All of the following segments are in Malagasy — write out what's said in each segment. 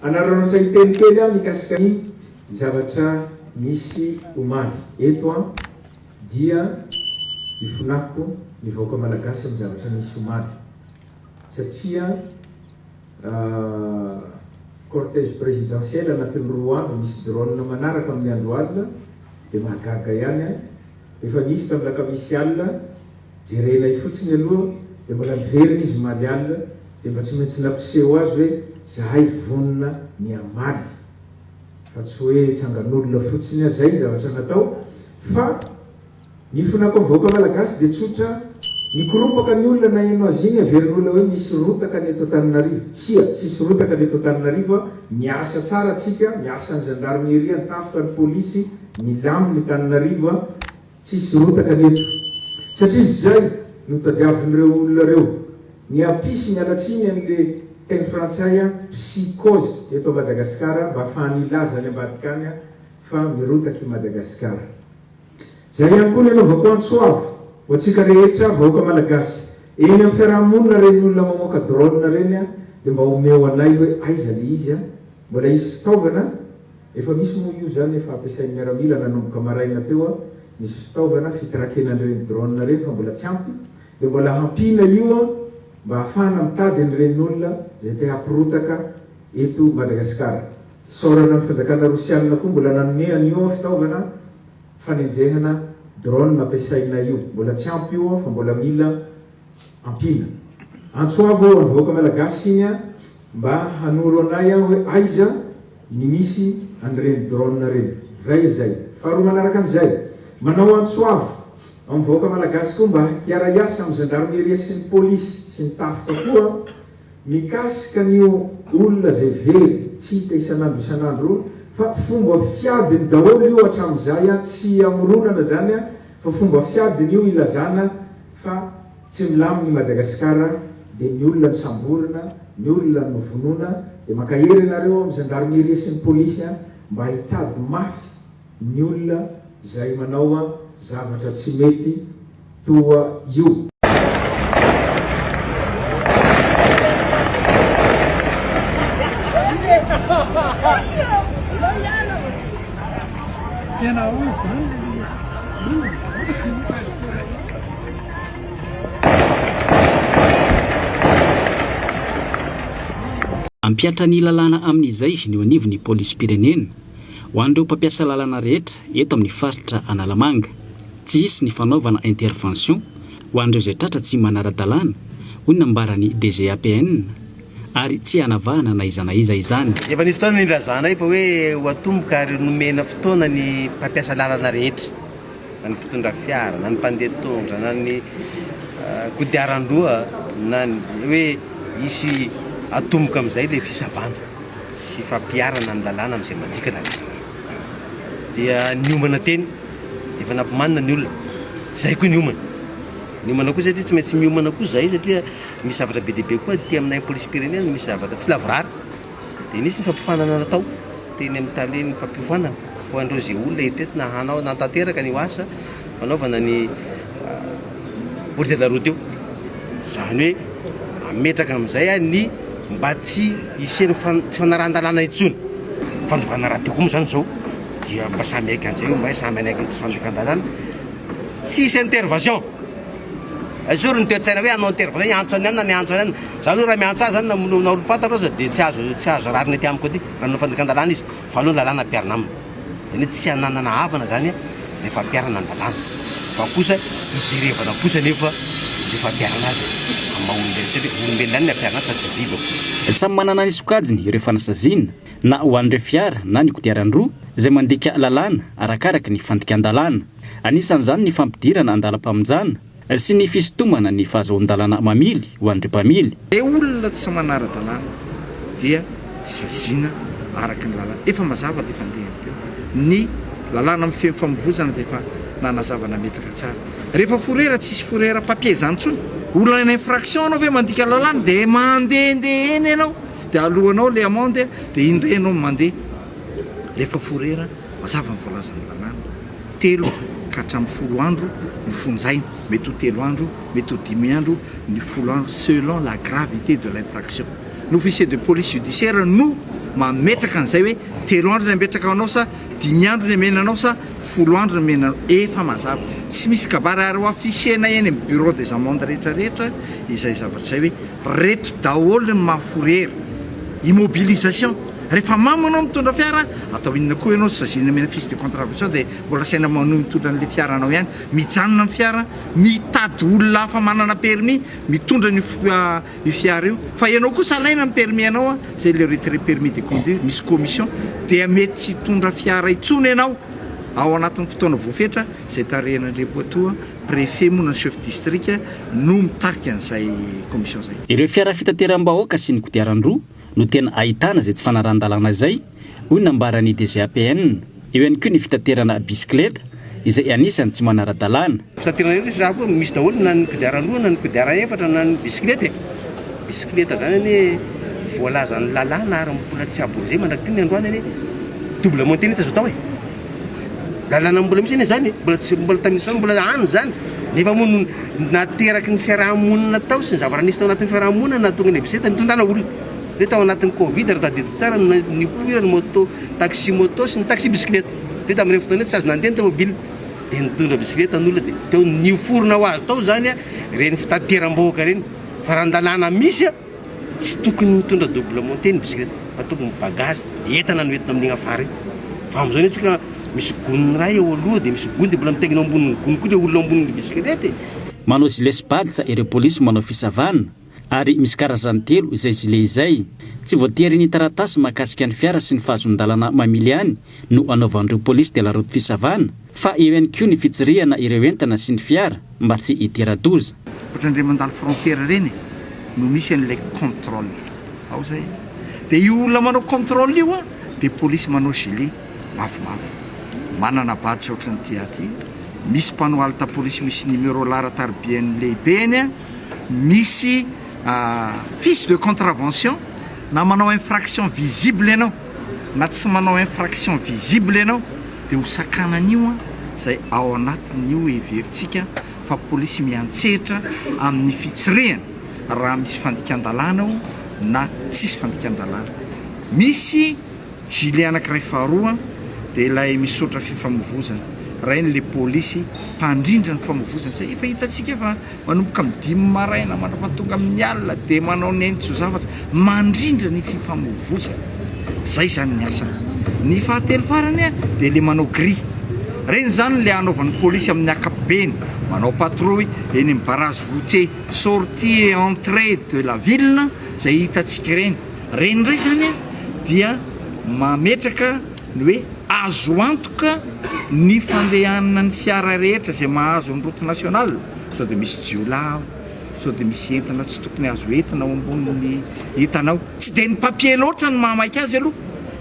Hanararaotra hiteny kely aho mikasika ny zavatra nisy omaly eto an, dia ifonako ny vahoaka malagasy amin'ny zavatra nisy omaly satria cortège présidentiel anatin'ny roa andro misy drone manaraka amin'ny andro alina dia mahagaga ihany an, efa nisy tamin'ny lakamisy alina. Jerenay fotsiny aloha dia mbola miverina izy mimaly alina dia mba tsy maintsy nampiseho azy hoe zahay vonona ny hamaly fa tsy hoe tsangan'olona fotsiny aho zay ny zavatra natao fa ny fonako amin'ny vahoaka malagasy dia tsotra mikoropaka ny olona naheno azy iny averin'olona hoe misy rotaka ny eto Antananarivo tsia tsisy rotaka ny eto Antananarivo a miasa tsara tsika miasa ny zandarmieria ny tafika ny polisy milamina i Tananarivo a Tsisy rotaka ny eto, satria izay no tadiavin'ireo olona ireo. Ny api sy miala tsiny an'le teny frantsay a psy kôzy eto Madagasikara mba afahany hilaza any ambadika any a fa mirotaka i Madagasikara. Zay ihany koa ny anaovako antso avo ho antsika rehetra vahoaka malagasy eny am fiarahamonina reny olona mamoaka drone reny a de mba omeo anay hoe aiza le izy a? Mbola hisy fitaovana? Efa misy moa io zany efa ampiasain'ny miaramila nanomboka maraina teo an, misy fitaovana fitrakena an'ireny drone ireny fa mbola tsy ampy dia mbola hampiana io an mba hahafahana mitady an'ireny olona izay te hampirotaka eto Madagasikara. Isaorana ny fanjakana rosianina koa mbola nanome an'io an fitaovana fanenjehana drone ampiasaina io. Mbola tsy ampy io an fa mbola mila ampiana. Antso avo ho an'ny vahoaka malagasy iny an! Mba hanoro anay an hoe aiza ny misy an'ireny drone ireny. Iray izay. Faharoa manaraka an'izay, manao antso avo amin'ny vahoaka malagasy koa mba hiara-hiasa amin'ny Zandarmeria sy ny Polisy sy ny Tafika koa mikasika an'io olona izay very tsy hita isan'andro isan'andro io fa fomba fiadiny daholo io hatramin'izay an! Tsy hamoronana izany an! Fa fomba fiadiny io ilazana Fa tsy milamina i Madagasikara dia ny olona no samborina, ny olona no vonoina, dia mankahery ianareo amin'ny Gendarmerie sy ny Polisy mba hitady mafy ny olona izay manao zavatra tsy mety toa io. Hampihatra ny lalàna amin'izay ny eo anivon'ny polisim-pirenena, ho an'ireo mpampiasa lalana rehetra eto amin'ny faritra Analamanga. Tsy hisy ny fanaovana intervention ho an'ireo izay tratra tsy manara-dalàna, hoy ny nambaran'ny DGAPN. ary tsy hanavahana na iza na iza izany. Efa nisy fotoana nilazanay fa hoe ho atomboka ary nomena fotoana ny mpampiasa lalana rehetra, na ny mpitondra fiara, na ny mpandeha tondra, na ny kodiaran-droa, na ny, hoe hisy atomboka amin'izay ilay fisavana sy fampiharana ny lalàna amin'izay mandika lalàna eo. Dia niomana teny, efa nampimanina ny olona, izay koa niomana. Niomana koa satria tsy maintsy miomana koa izahay satria Misy zavatra be dia be koa aty aminay polisim-pirenena, misy zavatra tsy lavorary. Dia nisy ny fampiofanana natao teny amin'ny talen'ny fampiofanana ho an'ireo izay olona eto entina hanao, hanatanteraka an'io asa fanaovana ny route de la route io. Izany hoe hametraka amin'izay ny mba tsy hisian'ny fan- tsy fanarahan-dalàna intsony. Fanovana radio koa moa izany izao dia mba samy haika an'izay io, mba samy hanaiky ny tsy fanaikan-dalàna, tsy hisy intervasion. Esory ny toe-tsaina hoe hanao interview hoe hiantso an'i anona ny hiantso an'i anona. Za aloha raha miantso ahy zany na moloa na olom-fantaro aza dia tsy azo tsy azo rariny aty amiko aty raha manao fandikan-dalàna izy fa aleo ny lalàna ampiharina aminy. Zany hoe tsy hananana havana zany le fampiharana ny lalàna fa kosa hijerevana kosa anefa le fampiharana azy amin'ny maha olombelona satria olombelona ihany ny ampiharina azy fa tsy biby ô. Samy manana ny sokajiny ireo fanasaziana na ho an'ireo fiara na ny kodiaran-droa izay mandika lalàna arakaraka ny fandikan-dalàna. Anisan'izany ny fampidirana an-dalam-pamonjana sy ny fisintomana ny fahazoan-dalàna mamily ho an'ireo mpamily. Ny olona tsy manara-dalàna dia saziana araka ny lalàna. Efa mazava ilay fandehany teo. Ny lalàna mifehy famovozana dia efa nanazava nametraka tsara. Rehefa forera tsisy forera papier izany intsony. Olona infraction anao ve mandika lalàna dia mandehandeha eny ianao dia aloanao ilay amende dia iny indray ianao no mandeha rehefa forera Mazava ny voalazan'ny Lalàna, telo ka hatramin'ny folo andro no fonjaina, mety ho telo andro, mety ho dimy andro ny folo andro selon la gravité de l'infraction. Ny officier de police judiciaire no mametraka an'izay hoe telo andro ny ametraka anao sa dimy andro ny amena anao sa folo andro ny amena anao, efa mazava, tsy misy kabary ary ho afficher-na eny amin'ny bureau des amendes rehetra rehetra izay zavatra izay hoe Reto daholo ny mahaforery. Immobilisation. Rehefa mamo anao mitondra fiara, atao inona koa ianao, sazinina amena fiche de contravention dia mbola asaina manohy mitondra an'ilay fiaranao ihany. Mijanona ny fiara, mitady olona hafa manana permis mitondra an'io io fiara io. Fa ianao kosa alaina ny permis anao, izay le retrait permis de conduire, misy commission, dia mety tsy hitondra fiara intsony ianao ao anatin'ny fotoana voafetra izay tarihan'Andriampoatoa. Préfet moa na chef district no mitarika an'izay commission izay. Ireo fiara fitateram-bahoaka sy ny kodiaran-droa no tena ahitana izay tsy fanarahan-dalàna izay, hoy ny nambaran'ny DGAPN. Eo ihany koa ny fitaterana bisikileta izay anisan'ny tsy manara-dalàna. Fitaterana rehetra izany koa misy daholo na ny kodiaran-droa na ny kodiaran efatra na ny bisikileta e! Bisikileta izany anie voalazan'ny lalàna ary mbola tsy aborizemana aty ny androany anie! Double montée mihitsy azo atao e! Lalana mbola misy anie zany e, mbola tsy mbola tamin'ny zao mbola any zany, nefa moa no nateraky ny fiaraha-monina tao sy ny zavatra nisy tao anatin'ny fiaraha-monina no nahatonga ny EBC nitondana olona. Hoe tao anatin'ny Covid raha tadidiko tsara no nipoiran'ny moto, taxi moto sy ny taxi bisikileta. Hoe tamin'ireny fotoana ireny tsy azo nandeha ny tomobila dia nitondra bisikileta ny olona dia teo niforona ho azy tao zany ireny fitateram-bahoaka ireny. Fa raha ny lalàna misy a! Tsy tokony mitondra double montée ny bisikileta fa tokony ny bagage, entana no entina amin'iny afara iny fa amin'izao anie tsika misy gony iray eo aloha dia misy gony dia mbola mitaingina eo ambonin'ny gony koa ilay olona eo ambonin'ny bisikileta e! Manao gilet sy badge ireo polisy manao fisavana ary misy karazany telo izay gilet izay. Tsy voatery ny taratasy mahakasika ny fiara sy ny fahazon-dalana mamily any no anaovan'ireo polisy dia la route fisavana fa eo ihany koa ny fitsirihana ireo entana sy ny fiara mba tsy hidira-doza. Ohatran'ireny mandalo frontière ireny e, no misy an'ilay contrôle ao zay e, dia io olona manao contrôle io an dia polisy manao gilet mavomavo, manana badge ohatran'ity ahy ity, misy panneau halte polisy misy numéro laharan-taribiany lehibeny an, misy fiche de contravention na manao infraction visible ianao. na tsy manao infraction visible ianao dia ho sakanan'io an izay ao anatin'io heverintsika fa polisy miantsehatra amin'ny fitsirihana raha misy fandikan-dalàna ao na tsisy fandikan-dalàna. Misy gilet anakiray faharoa dia ilay misaotra fifamovozana, raha iny le polisy mpandrindra ny famovozana izay efa hitantsika fa Manomboka amin'ny dimy maraina mandra-pahatonga amin'ny alina dia manao nentin-tso-zavatra mandrindra ny fifamoivoizana. Izay izany ny asany. Ny fahatelo farany dia ilay manao gris. Ireny izany ilay anaovan'ny polisy amin'ny ankapobeny, manao patrouille eny amin'ny barrage routier sortie et entrée de la ville izay hitantsika ireny. Ireny indray izany dia mametraka. ny hoe azo antoka ny fandehanan'ny fiara rehetra izay mahazo ny route nationale, sao dia misy jiolahy ao, sao dia misy entana tsy tokony azo entina ao ambonin'ny entana ao, tsy dia ny papier loatra no mahamaika azy aloha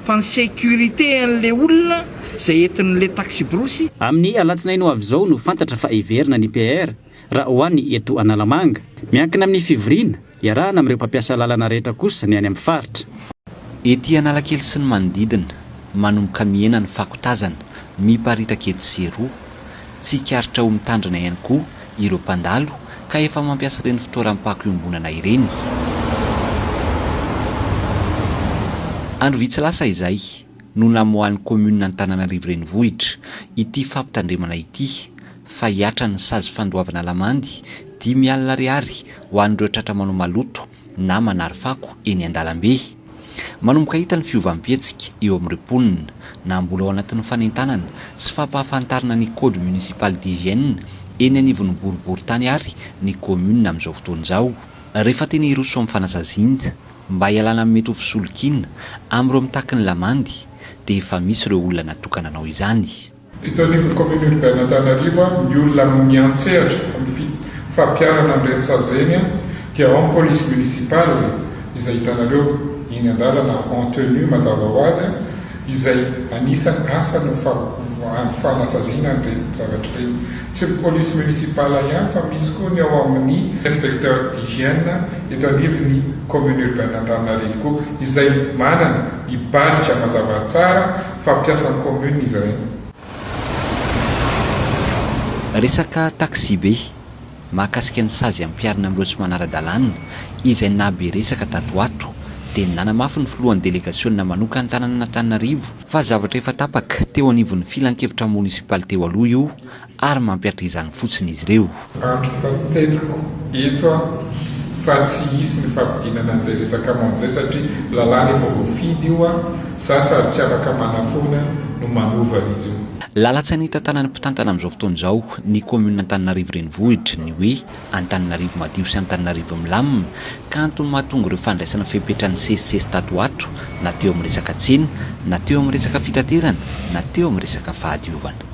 fa ny sécurité an'ilay olona izay entin'ilay taxi-brousse. Amin'ny alatsinainy ho avy izao no fantatra fa hiverina ny PR raha ho any eto Analamanga. Miankina amin'ny fivoriana Iarahana amin'ireo mpampiasa lalana rehetra kosa ny any amin'ny faritra. Ety Analakely sy ny manodidina, manomboka mihena ny fako tazana miparitaka etsy sy eroa. Tsikaritra ho mitandrina ihany koa ireo mpandalo ka efa mampiasa ireny fitoeram-pako iombonana ireny. Andro vitsy lasa izay no namoahan'ny kaominina Antananarivo Renivohitra ity fampitandremana ity. fa hihatra ny sazy fandoavana lamandy dimy alina ariary ho an'ireo tratra manao maloto na manary fako eny an-dalambe. Manomboka hita ny fiovam-pihetsika eo amin'ireo mponina, na mbola ao anatin'ny fanentanana sy fampahafantarana ny code municipal d'hygiène eny anivon'ny boriborintany ary ny commune amin'izao fotoana izao. Rehefa tena hiroso amin'ny fanasaziana mba hialana amin'ny mety ho fisolokiana amin'ireo mitaky ny lamandy dia efa misy ireo olona natokana hanao izany. Eto anivon'ny Commune Urbaine Antanarivo, ny olona miantsehatra amin'ny fampiharana ny rentsahazainy dia ao ny Police Municipale izay hitanareo eny an-dalana en tenue mazava ho azy izay anisan'ny asany ny fanasaziana an'ireny zavatra ireny. Tsy ny Police Municipale ihany fa misy koa ny ao amin'ny Inspecteur d'Hygiène eto anivon'ny Commune Urbaine Antananarivo koa izay manana i badge mazava tsara. fa mpiasan'ny commune izy ireny. Resaka taxibe, mahakasika ny sazy ampiharina amin'ireo tsy manara-dalàna, izay nahabe resaka tato ho ato, dia nanamafy ny filohan'ny delegasionina manokantanan'Antananarivo fa zavatra efa tapaka teo anivon'ny filankevitra monisipaly teo aloha io ary mampiatra izany fotsiny izy ireo. Andriko fa teliko eto aho fa tsy hisy ny fampidinana an'izay resaka monje satria lalàna efa voafidy io an, za sady tsy afaka manafoana no manova an'izy io. Lalan-tsaina hitantanan'ny mpitantana amin'izao fotoana izao ny kaominina Antananarivo Renivohitra ny hoe Antananarivo madio sy Antananarivo milamina, ka antony mahatonga ireo fandraisana fepetra nisesisesy tato ho ato, na teo amin'ny resaka tsena, na teo amin'ny resaka fitaterana, na teo amin'ny resaka fahadiovana.